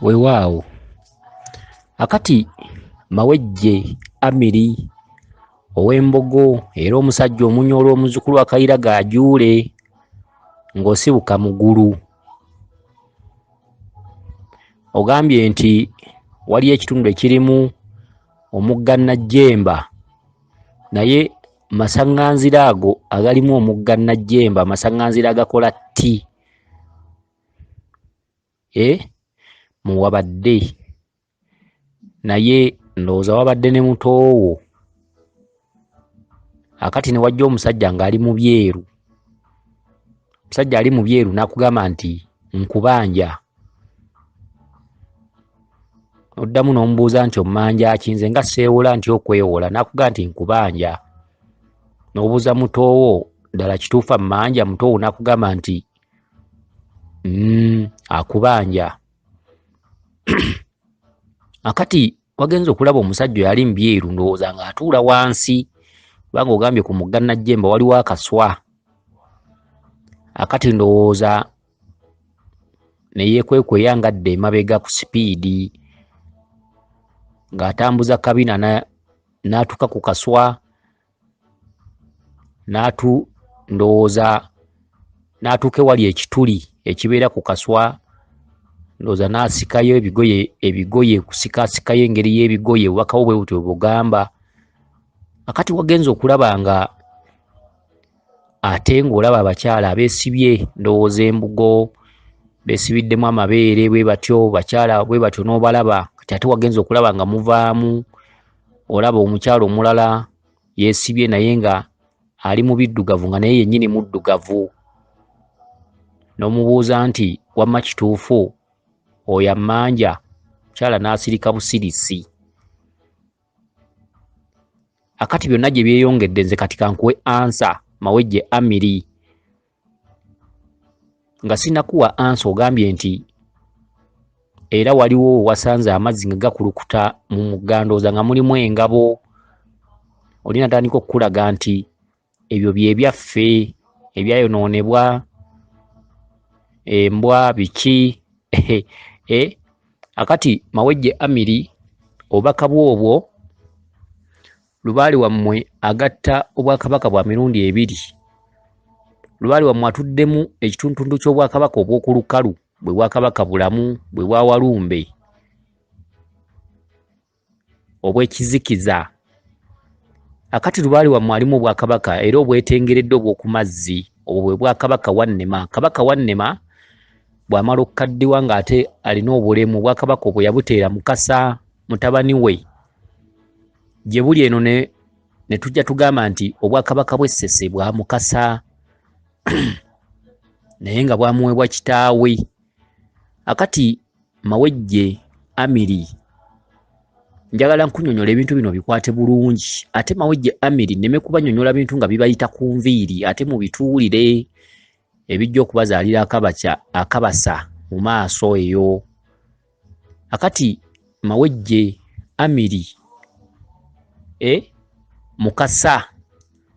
wewaawo akati mawejje amiri ow'embogo era omusajja omunyoolwa omuzukulu akayira gaajuule ng'osibuka mugulu ogambye nti waliyo ekitundu ekirimu omugga najjemba naye masaŋŋanzira ago agalimu omugga najjemba amasaŋŋanzira agakola tti e eh, muwabadde naye ndowooza wabadde ne mutoowo akati ne wajja omusajja ng'ali mu byeru omusajja ali mu byeru n'akugamba nti nkubanja oddamu n'omubuuza nti ommanja ki nze nga seewola nti okwewola n'akuga nti nkubanja n'obuuza mutoowo ddala kituufa mmanja mutoowo n'akugamba nti mm, akubanja akati wagenza okulaba omusajja yali mbyeru ndowooza nga atuula wansi kubanga ogambye ku mugga najjemba waliwo akaswa akati ndowooza neyekwekweya nga dda emabega ku sipiidi ng'atambuza kabina n'atuka ku kaswa n'atu ndowooza n'atuuka ewali ekituli ekibeera ku kaswa ndowooza n'asikayo ebigoye ebigoye kusikaasikayo engeri y'ebigoye obubakawo bwe butyo bugamba akati wagenza okulaba nga ate ng'olaba abakyala abeesibye ndowooza embugo beesibiddemu amabeere bwe batyo bakyala bwe batyo n'obalaba kati ate wagenza okulaba nga muvaamu olaba omukyalo omulala yesibye naye nga ali mu biddugavu nga naye yennyini muddugavu n'omubuuza nti wamma kituufu oyo ammanja mukyala n'asirika busirisi akati byonna gye byeyongedde nze kati kankuwe ansa mawejje amiri nga sinakuwa ansa ogambye nti era waliwo wasanze amazzi nga gakulukuta mu mugandooza nga mulimu engabo oli natandika okukulaga nti ebyo byebyaffe ebyayonoonebwa embwa biki e akati mawejje amiri obubaka bwobwo lubaale wammwe agatta obwakabaka bwa mirundi ebiri lubaale wammwe atuddemu ekituntuntu ky'obwakabaka obw'oku lukalu bwe bwakabaka bulamu bwe bwa walumbe obw'ekizikiza akati lubaale wammwe alimu obwakabaka era obwetengeredde obw'oku mazzi obwo bwe bwakabaka wannema kabaka wannema bw'amala okukaddiwa ng'ate alina obulemu obwakabaka obwe yabuteera mukasa mutabani we gye buli eno ne ne tujja tugamba nti obwakabaka bw'essese bwa mukasa naye nga bwamuweebwa kitaawe akati mawejje amiri njagala nkunyonyola ebintu bino bikwate bulungi ate mawejje amiri neme kubanyonyola bintu nga bibayita ku nviiri ate mubituwulire ebijja okubazaalira akabasa mu maaso eyo akati mawejje amiri e mukasa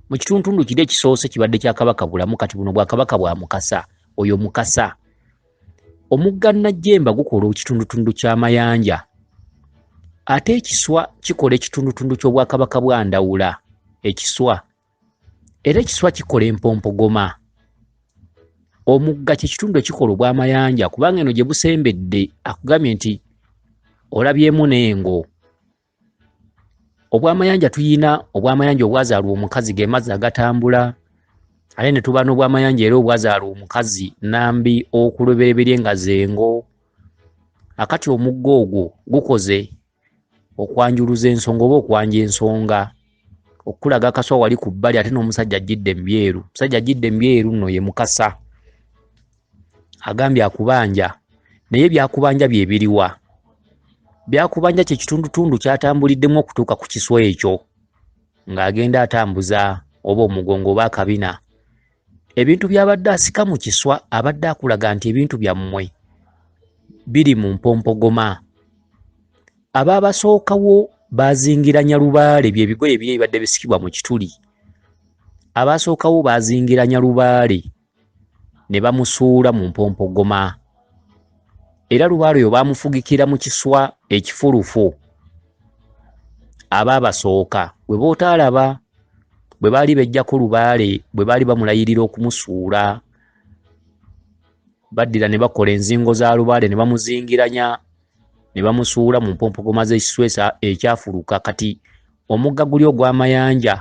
mu kituntundu kiri ekisoose kibadde kya kabaka bulamu kati buno bwakabaka bwa mukasa oyo mukasa omugga najjemba gukola ekitundutundu ky'amayanja ate ekiswa kikola ekitundutundu ky'obwakabaka bwa ndawula ekiswa era ekiswa kikola empompogoma omugga kyekitundu ekikola obwamayanja kubanga eno gye busembedde akugambye nti olabyemu n'engo obwamayanja tuyina obwamayanja obwazaalwa omukazi ge mazzi agatambula ate ne tuba n'obwamayanja era obwazaalwa omukazi nambi okulobereberye nga zengo akati omugga ogwo gukoze okwanjuluza ensonga oba okwanja ensonga okulaga kaswa wali ku bbali ate n'omusajja ajjidde mubyeru omusajja ajjidde mubyeru nno ye mukasa agambye akubanja naye byakubanja byebiriwa byakubanja kyekitundutundu kyatambuliddemu okutuuka ku kiswa ekyo ng'agenda atambuza oba omugongo oba akabina ebintu byabadde asika mu kiswa abadde akulaga nti ebintu byammwe biri mu mpompogoma abaabasookawo baazingira nyalubaale bye bigoye biri ebibadde bisikibwa mu kituli abaasookawo baazingira nyalubaale ne bamusuula mu mpompogoma era lubaale oyo baamufugikira mu kiswa ekifulufu aba abasooka bwe bootaalaba bwe baali bejjako lubaale bwe baali bamulayirira okumusuula baddira ne bakola enzingo za lubaale ne bamuzingiranya ne bamusuula mu mpompogoma z'ekiswesa ekyafuluka kati Omugga guli ogw'amayanja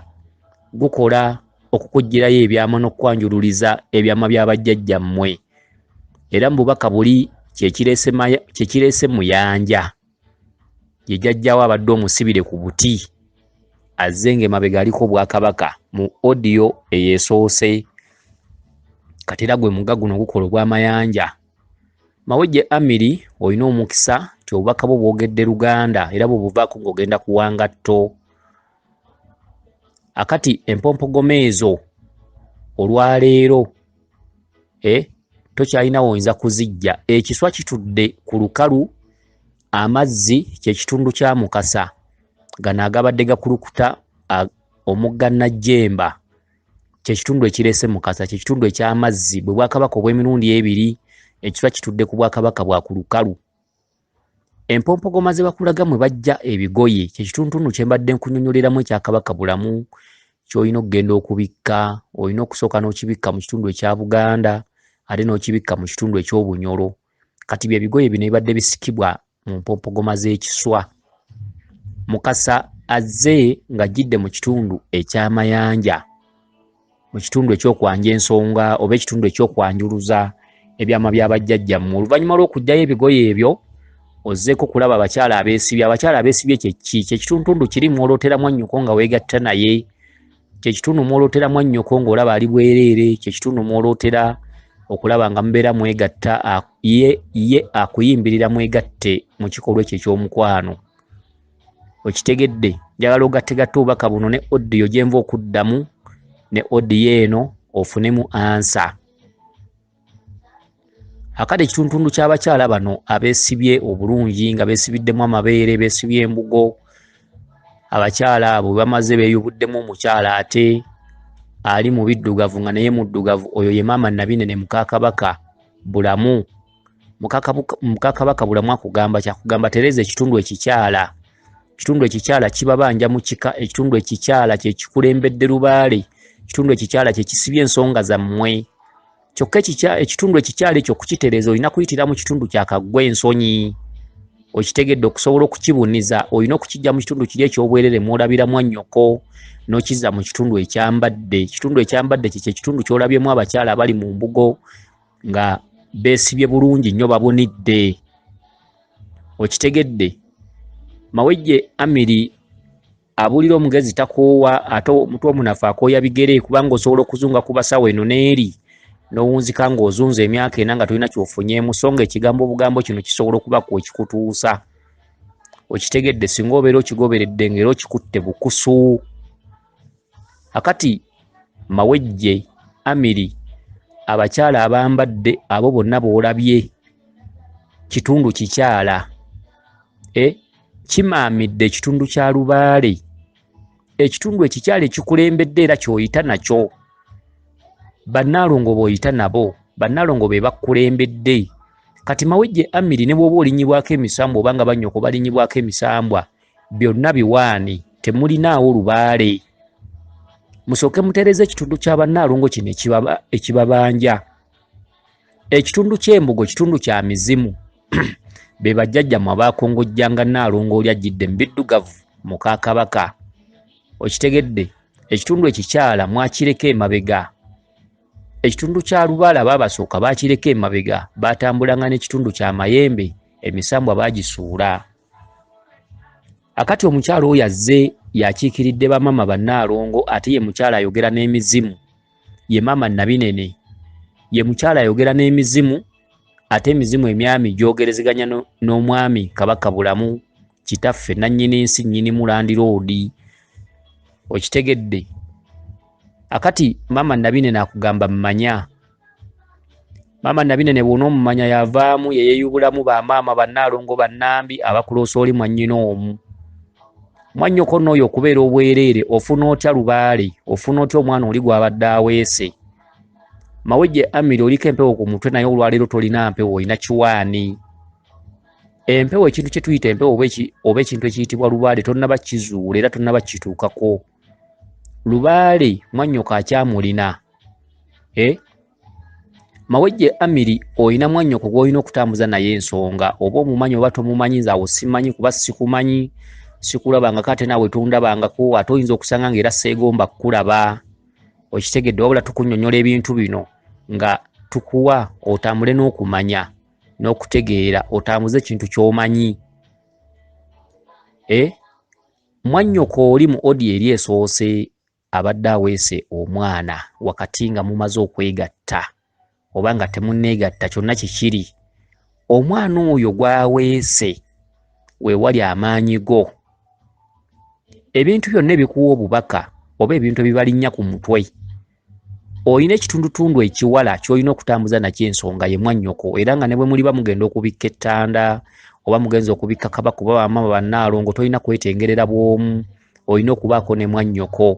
gukola okukuggyirayo ebyama n'okukwanjululiza ebyama bya bajjajjammwe era mu bubaka buli kye kireese muyanja ye jajjawo abadde omusibire ku buti azze ng'emabega aliko obwakabaka mu odiyo eyesoose katera gwe mugga guno gukola ogw'amayanja Mawejje Amiri olina omukisa nti obubaka bwo bwogedde Luganda era bwebuvaako ng'ogenda ku wangatto. Akati empompogoma ezo olwaleero e eh, tokyalina woyinza kuzijja. Ekiswa kitudde ku lukalu, amazzi kye kitundu kya Mukasa. Gano agabadde gakulukuta omugga Najjemba. kyekitundu ekireese mukasa kyekitundu ekyamazzi bwe bwakabaka obw'emirundi ebiri ekiba kitudde ku bwakabaka bwa ku lukalu empompogoma ze bakulaga mwe bajja ebigoye kyekituntundu kye mbadde nkunyonyoleramu ekyakabaka bulamu kyolina okugenda okubikka olina okusooka n'okibikka mu kitundu ekya buganda ate n'okibikka mu kitundu eky'obunyolo kati bye bigoye bino bibadde bisikibwa mu mpompogoma z'ekiswa mukasa azze ng'ajjidde mu kitundu ekyamayanja mu kitundu ekyokwanja ensonga oba ekitundu ekyokwanjuluza ebyama bya bajjajjammwe oluvannyuma lw'okugyayo ebigoye ebyo ozzeeko kulaba abakyala abeesibye abakyala abeesibye kyekki kyekituntundu kiri mwolooteramu annyoko nga weegatta naye kyekitundu mwolotera mwannyoko ng'olaba ali bwereere kyekitundu mwolotera okulaba nga mubeera mwegatta ye ye akuyimbirira mwegatte mu kikolwa ekyo ekyomukwano okitegedde njagala ogattegatta obubaka buno ne odiyo gyenva okuddamu ne odiyo eno ofunemu ansa akade ekituntundu ky'abakyala bano abeesibye obulungi nga beesibiddemu amabeere beesibye embugo abakyala abo bamaze beeyubuddemu omukyala ate ali mu biddugavu nga naye muddugavu oyo ye maama nabinene mukakabaka bulamu mukakabaka bulamu akugamba kyakugamba tereeza ekitundu ekikyala ekitundu ekikyala kibabanja mu kika ekitundu ekikyala kyekikulembedde lubaale ekitundu ekikyala kyekisibye ensonga zammwe kyokka ekitundu ekikyala ekyo okukitereeza olina kuyitira mu kitundu kyakaggwa ensonyi okitegedde okusobola okukibuniza olina okukijja mu kitundu kiri ekyobwerere mwolabira mwannyoko nokiza mu kitundu ekyambadde ekitundu ekyambadde kyekyo ekitundu kyolabyemu abakyala abali mu mbugo nga besibye bulungi nnyo babunidde okitegedde mawejje amiri abulira omugezi takoowa ate omutu omunafu akooya bigere kubanga osobola okuzunga ku basawo eno neeri nowunzika nga ozunza emyaka ena nga tolina kyofunyemu so nga ekigambo obugambo kino kisobola okuba ku ekikutuusa okitegedde singa obeera okigoberedde nga era okikutte bukusu akati mawejje amiri abakyala abambadde abo bonna boolabye kitundu kikyala e kimaamidde ekitundu kya lubaale ekitundu ekikyala ekikulembedde era kyoyita nakyo bannaalongo booyita nabo bannaalongo be bakulembedde kati mawejje amiri ne bwoba olinyibwako emisambwa obanga banyoko balinyibwako emisambwa byonna biwaani temulinaawo lubaale musooke mutereeza ekitundu kya bannaalongo kino ekibabanja ekitundu ky'embugo kitundu kya mizimu be bajjajjamwe abaakongojjanga nnaalongo oli ajjidde mu biddugavu muka kabaka okitegedde ekitundu ekikyala mwakireka emabega ekitundu kya lubaala baabasooka baakireka emabega baatambulanga n'ekitundu kya mayembe emisambwa baagisuula akati omukyalo oyo azze yakiikiridde bamama bannaalongo ate ye mukyalo ayogera n'emizimu ye maama nabinene ye mukyalo ayogera n'emizimu ate emizimu emyami gyogerezeganya n'omwami kabaka bulamu kitaffe nannyini nsi nnyini mulandiroodi okitegedde akati maama nabinene akugamba manya maama nabinene bwona omumanya yavaamu yeyeyubulamu bamaama banaalongo banambi abakuloosa oli mwanyina omu mwanyoko nooyo okubeera obwereere ofuna otya lubaale ofuna otya omwana oli gwabadde aweese mawejje amiri oliko empewo ku mutwe naye olwaleero tolina mpewo olina kiwaani empewo ekintu kyetuyita empewo oba ekintu ekiyitibwa lubaale tonaba kizuula era tonaba kituukako lubaale mwannyoko akyamulina e eh? mawejje amiri olina mwannyoko gwolina okutambuza naye ensonga oba omumanyi oba tomumanyi nze awo simanyi kuba sikumanyi sikulabangako ate naawe tondabangako ate oyinza okusanga ngaera seegomba kukulaba okitegedde wabula tukunyonyola ebintu bino nga tukuwa otambule n'okumanya n'okutegeera otambuze ekintu ky'omanyi e eh? Mwannyoko oli mu audio eri esoose abadde aweese omwana wakati nga mumaze okwegatta oba nga temunneegatta kyonna kikiri omwana oyo gwaweese wewali amaanyi go ebintu byonna ebikuwa obubaka oba ebintu ebibalinnya ku mutwe olina ekitundutundu ekiwala kyolina okutambuza nakyo ensonga ye mwannyoko era nga ne bwe muliba mugenda okubikka ettanda oba mugenza okubikka kaba kuba bamama bannaalongo tolina kwetengerera bwomu olina okubaako ne mwannyoko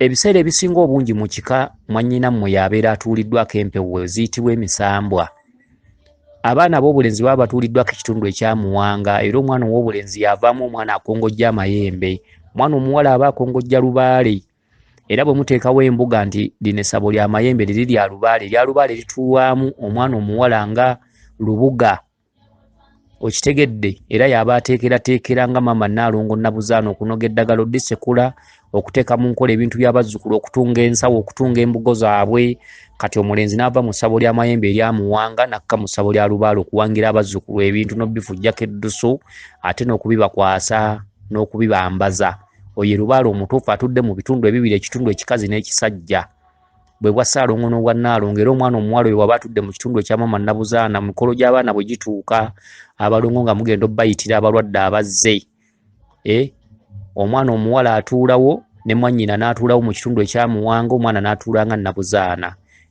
ebiseera ebisinga obungi mu kika mwannyina mmwe yabeera atuuliddwako empewo eziyitibwa emisambwa abaana ab'obulenzi baba batuuliddwako ekitundu ekyamuwanga era omwana ow'obulenzi yavaamu omwana akongojja amayembe omwana omuwala aba akongojja lubaale era bwe muteekawo embuga nti lino essabo lya mayembe liri lya lubaale erya lubaale lituulwamu omwana omuwala nga lubuga okitegedde era yaba ateekerateekera nga maama naalongo nabuzaana okunoga eddagala odisekula okuteeka mu nkola ebintu byabazzukulu okutunga ensawo okutunga embugo zaabwe kati omulenzi n'ava mu ssabo lya mayembe eryamuwanga nakka mu ssabo lya lubaale okuwangira abazzukulu ebintu n'obifujjako eddusu ate n'okubibakwasa n'okubibambaza oyo erubaale omutuufu atudde mu bitundu ebibiri ekitundu ekikazi n'ekisajja bwe bwa ssaalongo n'obwa nnaalongo era omwana omuwala oyo waba atudde mu kitundu ekya maama nnabuzaana mu mikolo gy'abaana bwe gituuka abalongo nga mugenda obbayitira abalwadde abazze e omwana omuwala atuulawo ne mwannyina n'atuulawo mu kitundu ekyamuwanga omwana n'atuula nga nnabuzaana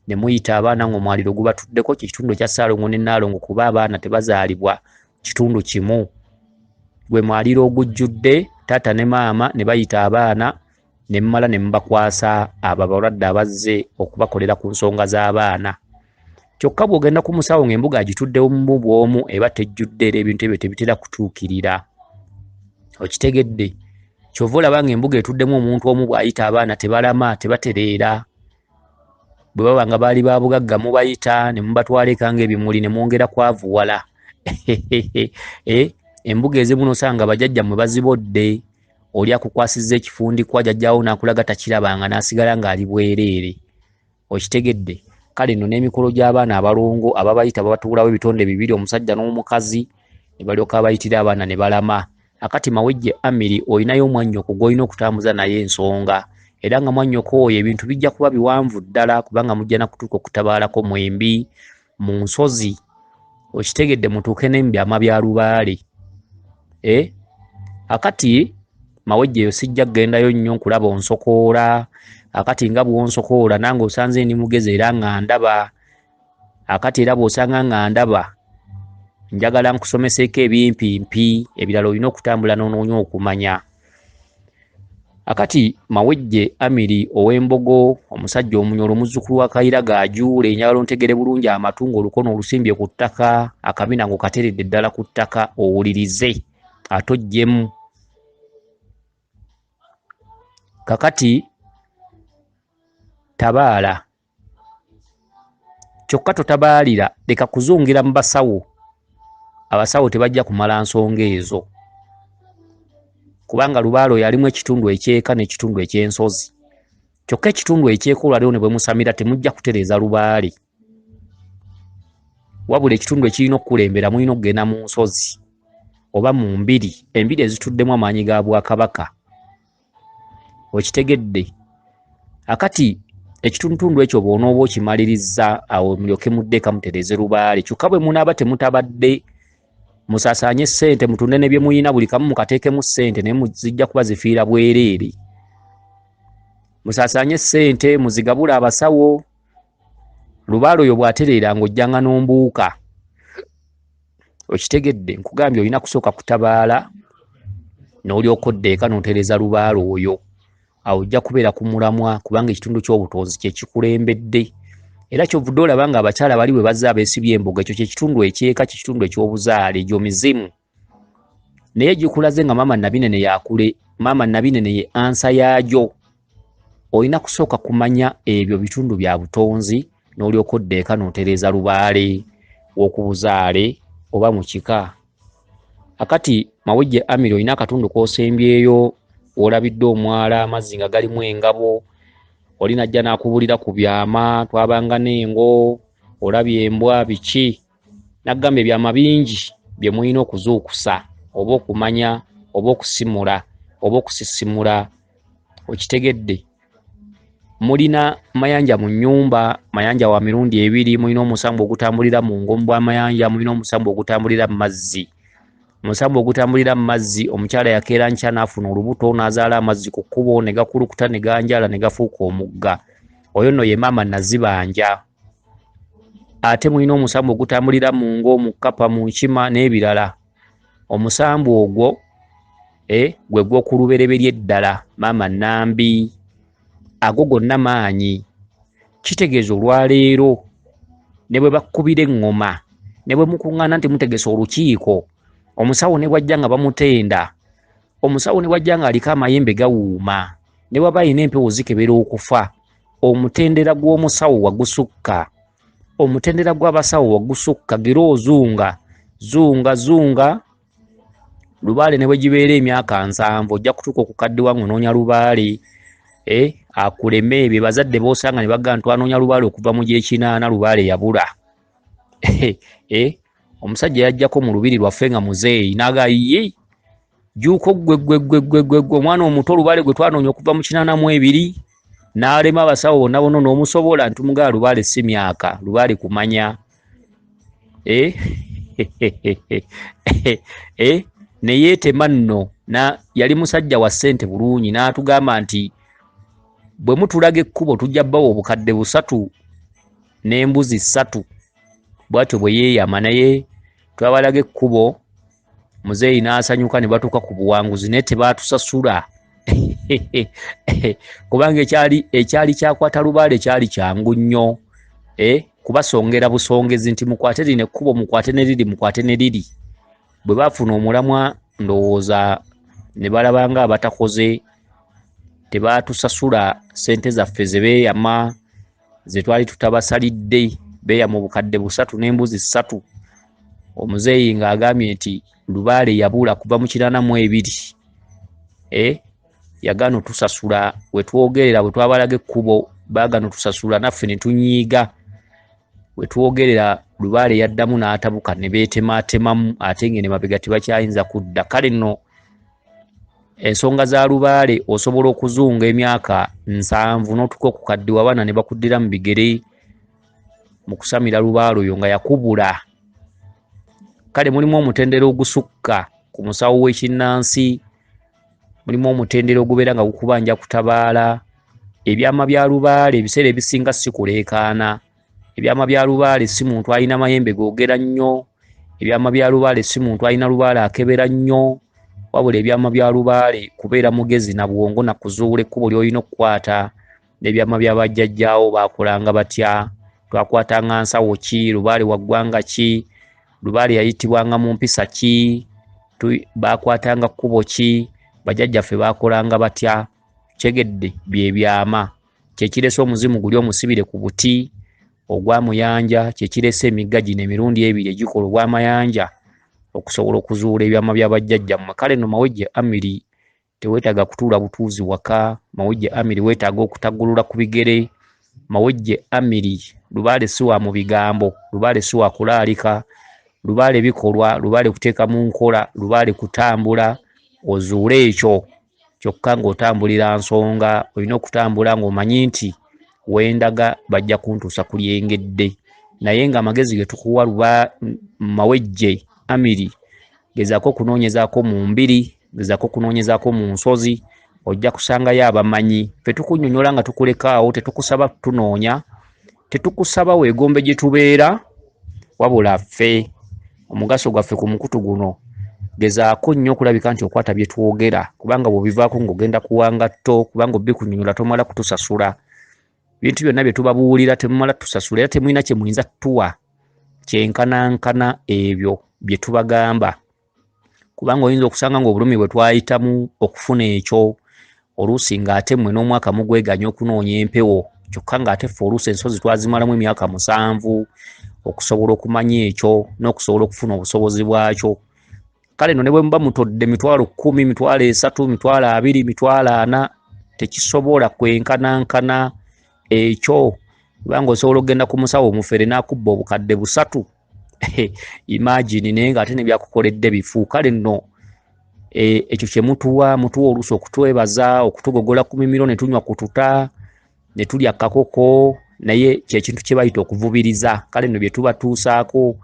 ne muyita abaana ng'omwaliro gubatuddeko kye kitundu ekya ssaalongo ne nnaalongo kuba abaana tebazaalibwa kitundu kimu gwe mwaliro ogujjudde taata ne maama ne bayita abaana ne mumala ne mubakwasa abo abalwadde abazze okubakolera ku nsonga z'abaana kyokka bw'ogenda ku musawo ng'embuga agituddewo mu bw'omu eba tejjudde era ebintu ebyo tebitera kutuukirira okitegedde kyova olaba ng'embuga etuddemu omuntu omu bw'ayita abaana tebalama tebatereera bwe baba nga baali ba bugagga mubayita ne mubatwala eka ng'ebimuli ne mwongera kwavuwala eh, embuga ezimu nosanga bajajja mwe bazibodde oli akukwasiza ekifundikwa jajjawo n'akulaga takirabanga n'asigala ng'ali bwereere okitegedde kale no n'emikolo gy'abaana abalongo ababayita babatuulawo ebitonde bibiri omusajja n'omukazi ne balyoka abayitira abaana ne balama akati mawejje amiri olinayo omwannyoko gw'olina okutambuza naye ensonga era nga mwannyoko oyo ebintu bijja kuba biwanvu ddala kubanga mujja na kutuuka okutabaalako mwembi mu nsozi okitegedde mutuuke ne mu byama bya lubaale e eh? akati mawejje eyo sijja kugendayo nnyo nkulaba onsokoola akati nga bwonsokoola nange osanze ndi mugezi era nga ndaba akati era bw'osanga nga ndaba njagala nkusomeseeko ebimpi mpi ebirala olina okutambula n'onoonya okumanya akati mawejje amiri ow'embogo omusajja omunyolo omuzzukulu wa kayira gaajuule njagala ontegere bulungi amatu ng'olukono olusimbye ku ttaka akabina ng'okateredde ddala ku ttaka owulirize atojjemu kakati tabaala kyokka totabaalira leka kuzungira mu basawo abasawo tebajja kumala nsonga ezo kubanga lubaalo yalimu ekitundu ekyeka n'ekitundu ekyensozi kyokka ekitundu ekyeka olwaliwo ne bwemusamira temujja kutereeza lubaale wabula ekitundu ekirina okukulembera mulina okugenda mu nsozi oba mu mbiri embiri ezituddemu amaanyi ga bwakabaka okitegedde akati ekitundutundu ekyo bwonooba okimaliriza awo mulyoke mudde kamutereeze lubaale kyokka bwe munaaba temutabadde musasaanye ssente mutunde ne bye muyina buli kamu mukateekemu ssente naye muzijja kuba zifiira bwereere musasaanye ssente muzigabule abasawo lubaale oyo bw'atereera ng'ojjanga n'ombuuka okitegedde nkugambye olina kusooka kutabaala n'olyoka odda eka n'otereeza lubaale oyo awo ojja kubeera ku mulamwa kubanga ekitundu ky'obutonzi kye kikulembedde era kyovudde olaba nga abakyala bali bwe bazze abeesibye embuga ekyo kyekitundu ekyeka kyekitundu eky'obuzaale egyo mizimu naye gikulaze nga maama nabinene yakule maama nabinene ye ansa yaajo olina kusooka kumanya ebyo bitundu bya butonzi n'olyoka oddeeka n'otereeza lubaale w'okubuzaale oba mu kika akati mawejje amiri olina akatundu k'osembyeyo olabidde omwala amazzi nga galimu engabo oli najja n'akubulira ku byama twabanga n'engo olabye embwa biki naggamba ebyama bingi bye mulina okuzuukusa oba okumanya oba okusimula oba okusisimula okitegedde mulina mayanja mu nyumba mayanja wa mirundi ebiri mulina omusambu ogutambulira mu ngomu bwa mayanja mulina omusambu ogutambulira mu mazzi omusambu ogutambulira mu mazzi omukyala yakeera nkya n'afuna olubuto n'azaala amazzi ku kkubo ne gakulukuta ne ganjala ne gafuuka omugga oyo nno ye maama nazibanja ate mulina omusambu ogutambulira mu ngo mu kkapa mu nkima n'ebirala omusambu ogwo eh, gwe gw'okulubereberye eddala maama nambi ago gonna maanyi kitegeeza olwaleero ne bwe bakkubira eŋŋoma ne bwe mukuŋŋaana nti mutegese olukiiko omusawo ne bwajja nga bamutenda omusawo ne bwajja nga aliko amayembe gawuuma ne bwaba alina empewo zikebera okufa omutendera gw'omusawo wagusukka omutendera gw'abasawo wagusukka gira ozunga zunga zunga lubaale ne bwe gibeera emyaka nsanvu ojja kutuuka okukaddiwa ng'onoonya lubaale eh, akuleme ebyo bazadde b'osanga ne bagamba twanoonya lubaale okuva mu gyekinaana lubaale yabula eh, omusajja yajjako mu lubiri lwaffe nga muzeeyi n'agayiyi juuko ggweggweggweggweggwe omwana omuto olubale gwe twanoonya okuva mu kinana mu ebiri n'alema abasawo bonna bona n'omusobola nti mugaa lubaale si myaka lubaale kumanya eh? eh? neyeetema nno na yali musajja wa ssente bulungi n'atugamba nti bwe mutulaga ekkubo tujja bawa obukadde busatu n'embuzi ssatu bwatyo bwe yeeyama naye twabalaga ekkubo muzeeyi n'asanyuka ne batuuka ku buwanguzi naye tebaatusasula kubanga ekyali ekyali kyakwata lubaale kyali kyangu nnyo eh, kubasongera busongezi nti mukwate lino ekkubo mukwate ne liri mukwate ne liri bwe baafuna omulamwa ndowooza ne balaba nga abatakoze tebaatusasula ssente zaffe ze beeyama ze twali tutabasalidde beeya mu bukadde busatu n'embuzi ssatu omuzeeyi ng'agambye nti lubaale yabula kuva mu kiraana mu ebiri e yagaana otusasula we twogerera bwe twabalaga ekkubo baagana otusasula naffe ne tunyiiga we twogerera lubaale yaddamu n'atabuka ne beetemaatemamu ate ng'ene mabega tebakyayinza kudda kale nno ensonga za lubaale osobola okuzunga emyaka nsanvu n'otuka okukaddiwa abaana ne bakuddira mu bigere mu kusamira lubaale oyo nga yakubula kale mulimu omutendera ogusukka ku musawo w'ekinnansi mulimu omutendera ogubeera nga gukubanja kutabaala ebyama bya lubaale ebiseera ebisinga sikuleekaana ebyama bya lubaale si muntu alina mayembe googera nnyo ebyama bya lubaale si muntu alina lubaale akebera nnyo wabula ebyama bya lubaale kubeera mugezi na bwongo na kuzuula ekkubo ly'olina okukwata n'ebyama bya bajjajjaawo baakolanga batya twakwatanga nsawo ki lubaale wa ggwanga ki lubaale yayitibwanga mu mpisa ki baakwatanga kkubo ki bajjajjaffe baakolanga batya kyegedde bye byama kyekirese omuzimu guli omusibire ku buti ogwa muyanja kyekirese emigga gino emirundi ebiri egikola obwamayanja okusobola okuzuula ebyama bya bajjajja mmwe kale no mawejje amiri tewetaaga kutuula butuuzi waka mawejje amiri wetaaga okutagulula ku bigere mawejje amiri lubaale si wa mu bigambo lubaale si wa kulaalika lubaale bikolwa lubaale kuteeka mu nkola lubaale kutambula ozuule ekyo kyokka ng'otambulira nsonga olina okutambula ng'omanyi nti wendaga bajja kuntuusa ku lyengedde naye ng'amagezi ge tukuwa luba mawejje amiri gezaako okunoonyezaako mu mbiri gezaako okunoonyezaako mu nsozi ojja kusangayo abamanyi fe tukunyonyola nga tukulekaawo tetukusaba tunoonya Tetukusaba weegombe gye tubeera wabula ffe omugaso gwaffe ku mukutu guno gezaako nnyo okulabika nti okwata bye twogera kubanga bw'obivaako ng'ogenda kuwanga tto kubanga obikunyonyola tomala kutusasula ebintu byonna bye tubabuulira temumala tusasula era temulina kye muyinza tuwa kyenkanankana ebyo bye tubagamba kubanga oyinza okusanga ng'obulumi bwe twayitamu okufuna ekyo oluusi ng'ate mmwe n'omwaka mugweganya okunoonya empewo kyokka ng'ate ffe oluusi ensozi twazimalamu emyaka musanvu okusobola okumanya ekyo n'okusobola okufuna obusobozi bwakyo kale no ne bwe muba mutodde mitwalo kkumi mitwalo esatu mitwalo abiri mitwalo ana tekisobola kwenkanankana ekyo kubanga osobola okugenda ku musawo omufere n'akubba obukadde busatu imagine naye nga ate nebyakukoledde bifu kale nno e, ekyo kyemutuwa mutuwa oluusi okutwebaza okutugogola ku mimiro netunywa kututa netulya kakoko naye kyekintu kyebayita okuvubiriza kale nno byetubatuusaako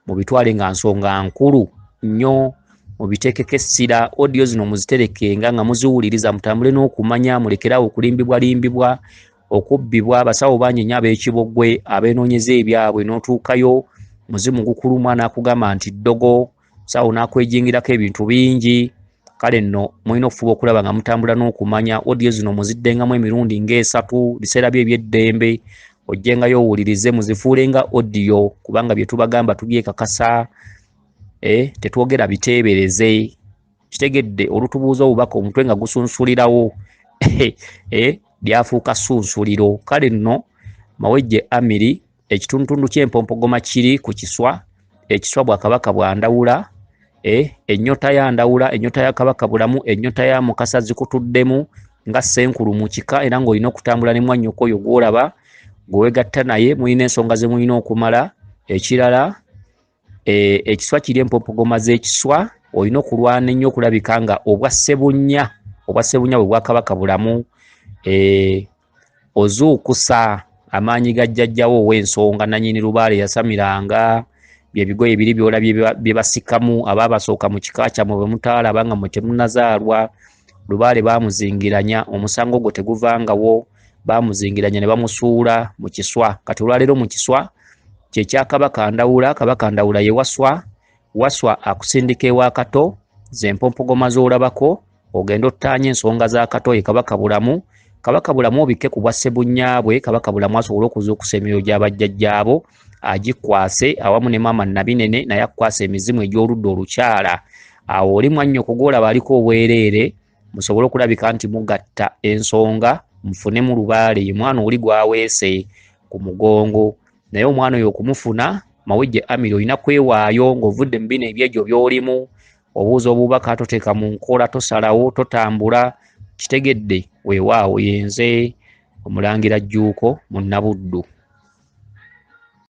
mubitwale nga nsonga nkulu nnyo mubitekeko essira odio zino muziterekenga nga muziwuliriza mutambule n'okumanya mulekerawo okulimbibwalimbibwa okubbibwa abasawo bangi nnyo ab'ekiboggwe abeenoonyeza ebyabwe n'otuukayo muzimu gukuluma n'akugamba nti ddogo sawo n'akwejingirako ebintu bingi kale nno mulina okufuba okulaba nga mutambula n'okumanya wodiyo zino muziddengamu emirundi ng'esatu biseera byo eby'eddembe ojjengayo owulirize muzifuule nga odiyo kubanga bye tubagamba tubyekakasa e tetwogera biteebereze kitegedde olutubuuza obubaka omutwe nga gusunsulirawo e byafuuka sunsuliro kale nno mawejje amiri ekitundutundu ky'empompogoma kiri ku kiswa ekiswa bwa kabaka bwa ndawula e, eh, ennyota ya ndawula ennyota ya kabaka bulamu ennyota ya mukasa zikutuddemu nga senkulu mu kika era ng'olina okutambula ne mwannyoko oyo gw'olaba gwewegatta naye mulina ensonga ze mulina okumala ekirala Eh, ekiswa kiri empopogoma z'ekiswa olina okulwana ennyo okulabika nga obwa ssebunya obwa ssebunya bwe bwakabaka bulamu eh, ozuukusa amaanyi ga jjajjawo ow'ensonga nanyini lubaale yasamiranga byebigoye biri byolabye bye basikamu abaabasooka mu kika kyamwe bwe mutaalaba nga mwe temunazaalwa lubaale baamuzingiranya omusango ogwo teguvangawo baamuzingiranya ne bamusuula mu kiswa kati olwaleero mu kiswa kyekya kabaka ndawula kabaka ndawula ye waswa waswa akusindika ewa kato zempompogoma z'olabako ogenda ottaanya ensonga za kato ye kabaka bulamu kabaka bulamu obikke ku bwa ssebunyaabwe kabaka bulamu asobole okuzuukusa emyoyo gy'abajjajjaabo agikwase awamu ne maama nabinene naye akukwasa emizimu egy'oludda olukyala awo oli mwannyo kugolaba aliko obwereere musobole okulabika nti mugatta ensonga mufune mu lubaale ye mwana oli gwaweese ku mugongo naye omwana oyo okumufuna mawejje amiri olina kwewaayo ng'ovudde mu bino ebyejo by'olimu obuuza obubaka toteeka mu nkola tosalawo totambula kitegedde weewaawo yenze omulangira jjuuko mu nabuddu